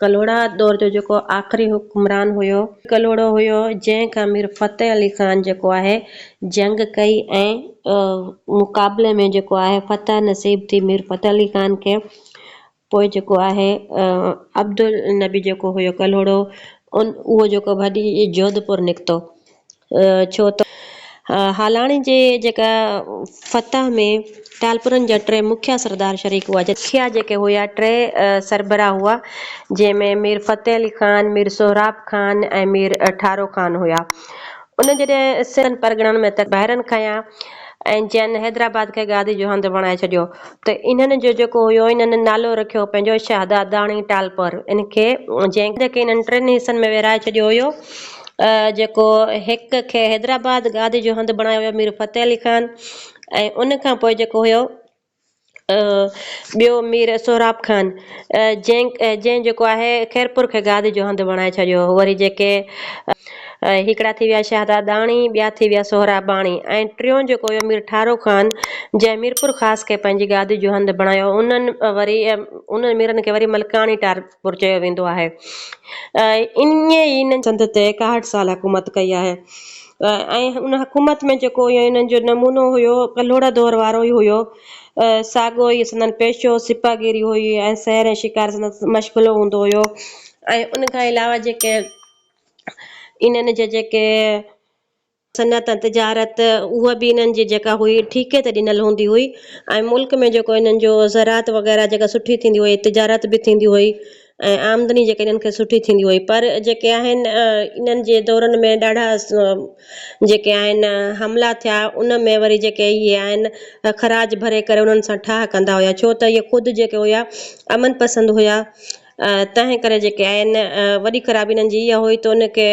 ڪلهوڙا دور جو جيڪو آخري حڪمران هيو. ڪلهوڙو هيو جنهن کان مير فتح علي خان جيڪو آهي جنگ ڪئي ۽ مقابلي ۾ جيڪو آهي فتح نصيب ٿي مير فتح علي خان کي پوء جيڪو آهي عبدالنبي جيڪو هيو ڪلهوڙو ان اهو جيڪو ڀڄي جوڌپور نڪتو ڇو ته هالاڻي جي جيڪا فتح ۾ ٽالپرن جا ٽي مکيه سردار شريڪ هئا. مکيه جيڪي هيا ٽي سربراهه هئا، جنهن ۾ مير فتح علي خان، مير سهراب خان ۽ مير ٺارو خان هيا. انهن جڏهن سنڌ پرڳڻن ۾ تڪ بحرن کنيا ۽ جئن حيدرآباد کي گادي جو هنڌ بڻائي ڇڏيو ته انهن جو جيڪو هيو انهن نالو رکيو پنهنجو شهداداڻي ٽالپر ان کي جنهن کي انهن ٽن حصن ۾ ورهائي ڇڏيو هيو. جيڪو هڪ کي حيدرآباد گادي جو هنڌ بڻايو ويو مير فتح علي خان ۽ ان کان پوء جيڪو هيو ٻيو مير سهراب خان جنهن جنهن جيڪو آهي خيرپور کي گادي جو هنڌ بڻائي ڇڏيو هو وري جيڪي هڪڙا ٿي ويا شهداداڻي ٻيا ٿي ويا سهراباڻي ۽ ٽيون جيڪو هيو مير ٺارو خان جنهن ميرپور خاص کي پنهنجي گادي جو هنڌ بڻايو انهن وري انهن ميرن کي وري ملڪاڻي ٽار پور چيو ويندو آهي ۽ انهن سنڌ تي ايڪاهٺ سال حڪومت ڪئي آهي ۽ ان حڪومت ۾ جيڪو انهن جو نمونو هيو ڪلهوڙا دور وارو ئي هيو ساڳو ئي سندن پيشو سپاهيگيري هئي ۽ سحر ۽ شڪار سندن مشغلو هوندو هيو ۽ ان کان علاوه جيڪي انهن جي جيڪي صنعت ۽ تجارت اها به انهن جي جيڪا هئي ٺيڪي تي ڏنل هوندي هئي ۽ ملڪ ۾ جيڪو انهن جو زراعت وغيره جيڪا سٺي ٿيندي هئي تجارت به ٿيندي هئي ۽ آمدني جيڪا انهن کي سٺي ٿيندي هئي پر جيڪي آهن انهن جي دورن ۾ ڏاڍا جيڪي آهن حملا ٿيا ان ۾ وري جيڪي اهي آهن خراج ڀري ڪري انهن سان ٺاهه ڪندا هيا ڇو ته اهي خود جيڪي هيا امن پسند هيا تنهن ڪري جيڪي آهن وڏي خرابي انهن جي اها هئي ته ان کي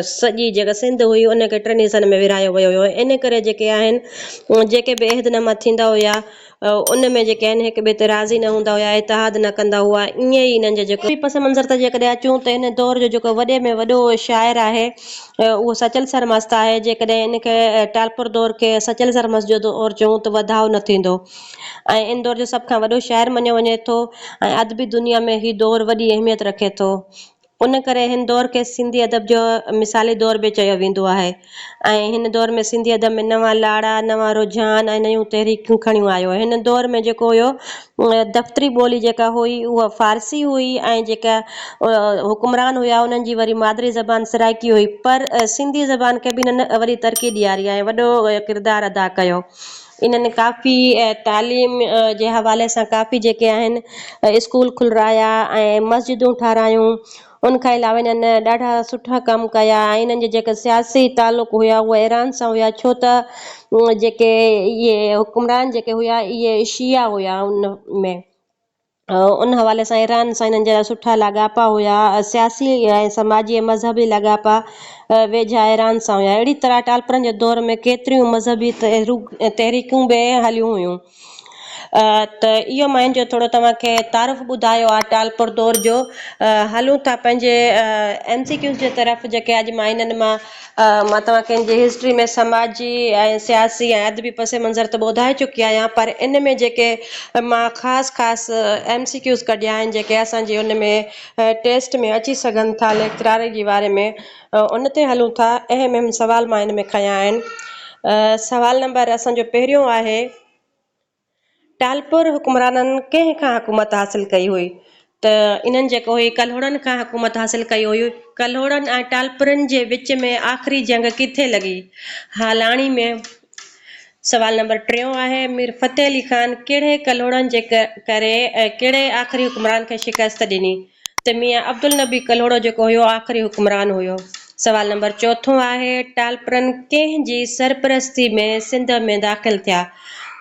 سڄي جيڪا سنڌ هئي ان کي ٽن حصن ۾ ورهايو ويو هيو ان ڪري جيڪي آهن جيڪي به عهد ناما ٿيندا هيا ان ۾ جيڪي آهن هڪ ٻئي تي راضي نه هوندا هيا اتحاد نه ڪندا هئا ائين ئي انهن جي جيڪو ٻي پس منظر تي جيڪڏهن اچون ته هن دور جو جيڪو وڏي ۾ وڏو شاعر آهي اهو سچل سرمست آهي جيڪڏهن ان کي ٽالپر دور کي سچل سرمست جو دور چئون ته وڌاء نه ٿيندو. ۽ ان دور جو سڀ کان وڏو شاعر مڃيو وڃي ٿو ۽ ادبي دنيا ۾ هي دور وڏي اهميت رکي ٿو. ان ڪري هن دور کي سنڌي ادب جو مثالي دور به چيو ويندو آهي ۽ هن دور ۾ سنڌي ادب ۾ نوان لاڙا، نوان رجحان ۽ نيون تحريڪون کڻيون آيو. هن دور ۾ جيڪو هيو دفتري ٻولي جيڪا هئي اها فارسي هئي ۽ جيڪا حڪمران هيا انهن جي وري مادري زبان سرائڪي هئي پر سنڌي زبان کي به هنن وڏي ترقي ڏياري ۽ وڏو ڪردار ادا ڪيو. انهن ڪافي ۽ تعليم جي حوالي سان ڪافي جيڪي آهن اسڪول کلرايا ۽ مسجدون ٺارايون ان کان علاوه انهن ڏاڍا سٺا ڪم ڪيا ۽ انهن جا جيڪا سياسي تعلق هيا اهي ايران سان هيا ڇو ته جيڪي اهي حڪمران جيڪي هيا اهي شيعا هيا ان ۾ ان حوالي سان ايران سان هنن جا سٺا لاڳاپا هيا، سياسي ۽ سماجي ۽ مذهبي لاڳاپا ويجها ايران سان هيا. اهڙي طرح ٽالپرن جي دور ۾ ڪيتريون مذهبي تحريڪون به هليون هيون. ته اهو مان ان جو ٿورو توهان کي تعارف ٻڌايو آهي ٽالپر دور جو. هلون ٿا پنهنجي MCQs جي طرف جيڪي اڄ مان هنن مان مان توهان کي انجي هسٽري ۾ سماجي ۽ سياسي ۽ ادبي پس منظر ته ٻڌائي چڪي آهيان پر ان ۾ جيڪي مان خاص خاص ايم سي ڪيوز ڪڍيا آهن جيڪي اسان جي ان ۾ ٽيسٽ ۾ اچي سگهن ٿا ليڪچراري جي واري ۾ ان تي هلون ٿا اهم اهم سوال مان ان ۾ کنيا آهن سوال نمبر اسان جو پهريون آهي ٽالپر حڪمرانن ڪنهن کان حڪومت حاصل ڪئي هئي ته انهن جيڪو هي ڪلهوڙن کان حڪومت حاصل ڪئي هئي. ڪلهوڙن ۽ ٽالپرن جي وچ ۾ آخري جنگ ڪٿي لڳي؟ هالاڻي ۾. سوال نمبر ٽيون آهي، مير فتح علي خان ڪهڙي ڪلهوڙن جي ڪري ۽ ڪهڙي آخري حڪمران کي شڪست ڏني؟ ته ميان عبدالنبي ڪلهوڙو جيڪو هيو آخري حڪمران هيو. سوال نمبر چوٿون آهي ٽالپرن ڪنهن جي سرپرستي ۾ سنڌ ۾ داخل ٿيا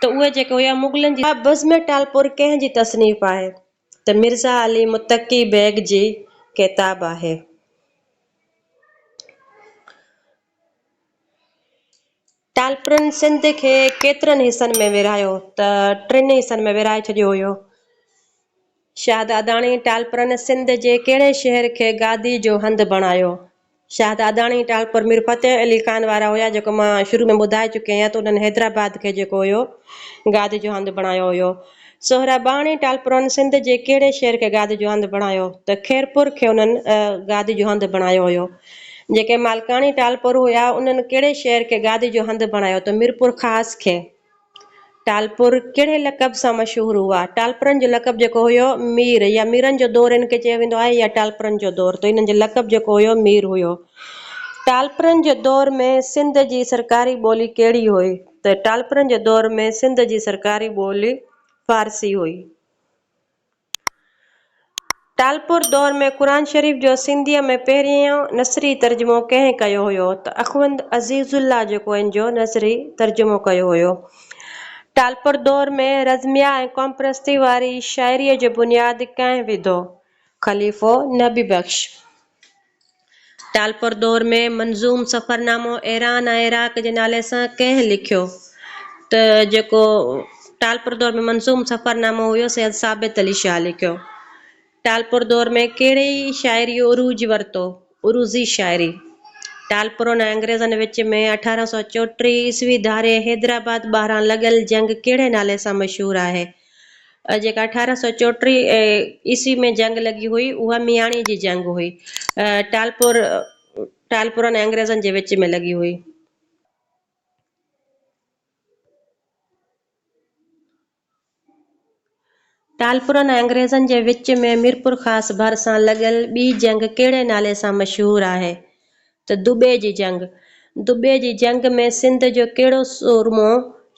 ته اهي جيڪي هيا مغلن جي. بزم ٽالپر ڪنهن جي تصنيف آهي ته مرزا علي متقي بيگ جي ڪتاب آهي. ٽالپرن سنڌ کي ڪيترن حصن ۾ ورهايو ته ٽن حصن ۾ ورهائي ڇڏيو هيو. شاهداداڻي ٽالپرن سنڌ جي ڪهڙي شهر کي گادي جو هنڌ بڻايو؟ شاهداداڻي ٽالپر مير فتح علي خان وارا هيا جيڪو مان شروع ۾ ٻڌائي چڪي آهيان ته انهن حيدرآباد کي جيڪو هيو گادي جو هنڌ بڻايو هيو. سهراباڻي ٽالپرن سنڌ جي ڪهڙي شهر کي گاد جو هنڌ بڻايو ته خيرپور کي انهن گاد جو هنڌ بڻايو هيو. جيڪي مالڪاڻي ٽالپر هيا انهن ڪهڙي شهر کي گاد جو هنڌ بڻايو ته ميرپورخاص کي. ٽالپر ڪهڙي لقب سان مشهور هئا؟ ٽالپرن جو لقب جيڪو هيو مير يا ميرن جو دور هن کي چيو ويندو آهي يا ٽالپرن جو دور ته انهن جو لقب جيڪو هيو مير هيو. ٽالپرن جي دور ۾ سنڌ جي سرڪاري ٻولي ڪهڙي هئي؟ ته ٽالپرن جي دور ۾ سنڌ جي سرڪاري ٻولي فارسي هئي. ٽالپر دور ۾ قرآن شريف جو سنڌيء ۾ پهريون نثري ترجمو ڪنهن ڪيو هيو ته اخوند عزيز الله جيڪو ان جو نثري ترجمو ڪيو هيو. ٽالپر دور ۾ رزميه ۽ قومپرستيء واري شاعريء جو بنياد ڪنهن وڌو؟ خليفو نبي بخش. ٽالپر دور ۾ منظوم سفرنامو ايران ۽ عراق جي نالي سان ڪنهن لکيو؟ ته جيڪو ٽالپر دور ۾ منظوم سفرنامو هيو سي ثابت علي شاهه لکيو. ٽالپر دور ۾ ڪهڙي شاعريء عروج ورتو؟ عروضي شاعري. ٽالپرن ۽ انگريزن وچ ۾ اٺارهن سؤ چوٽيهه عيسوي ڌاري حيدرآباد ٻاهران لڳل جنگ ڪهڙي نالي سان مشهور آهي؟ جيڪا اٺارهن سؤ چوٽيهه عيسوي ۾ جنگ لڳي هئي، اها مياڻيء جي جنگ هئي. ٽالپور، Talpur، ۽ انگريزن جي وچ ۾ لڳي هئي. ٽالپور ۽ انگريزن جي وچ ۾ ميرپورخاص ڀرسان لڳل ٻي جنگ ڪهڙي نالي سان مشهور آهي؟ ته دٻي جي جنگ، دٻي جي جنگ ۾ سنڌ جو ڪهڙو سورمو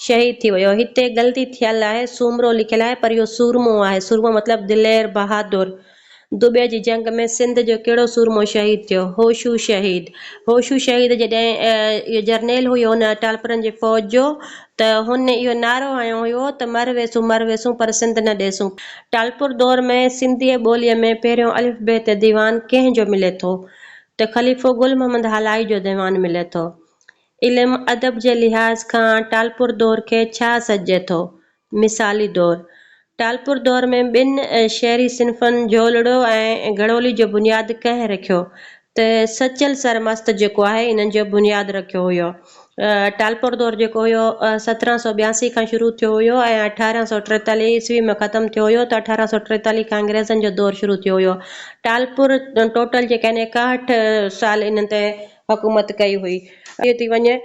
شهيد ٿي ويو؟ هتي غلطي ٿيل آهي، سومرو لکيل آهي پر اهو سورمو آهي، سورمو مطلب دلير، بهادر. دٻي جي جنگ ۾ سنڌ جو ڪهڙو سورمو شهيد ٿيو؟ هوشو شهيد. هوشو شهيد جڏهن اهو جرنيل هيو ان اٽالپرن جي فوج جو ته هن اهو نعرو هنيو هيو ته مر ويسون مر ويسون پر سنڌ نه ڏيسون. ٽالپر دور ۾ سنڌيء ٻوليء ۾ پهريون الف بيت ديوان ڪنهن جو ملي ٿو؟ ته خليفو گل محمد هالائي جو ديوان ملي ٿو. علم ادب جي لحاظ کان ٽالپر دور کي ڇا سڏجي ٿو؟ مثالي دور، ٽالپر دور ۾ ٻن شعري صنفن جهولڙو ۽ گهڙولي جو بنياد ڪنهن رکيو؟ ته سچل سرمست جيڪو آهي انهن جو بنياد رکيو هيو. ٽالپور دور جيڪو هيو سترهن سؤ ٻياسي کان شروع ٿيو هيو ۽ اٺارهن سؤ ٽيتاليهه عيسوي ۾ ختم ٿيو هيو ته اٺارهن سؤ ٽيتاليهه کان انگريزن جو دور شروع ٿيو هيو ٽالپور ٽوٽل جيڪا هن ايڪاهٺ سال انهن تي حڪومت ڪئي هئي. ٿي ٿي وڃي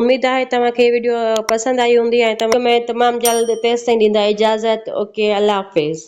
اميد آهي توهان کي ويڊيو پسند آئي هوندي ۽ توهان ۾ تمام جلد تيستائين ڏيندا اجازت اوڪي الله حافظ.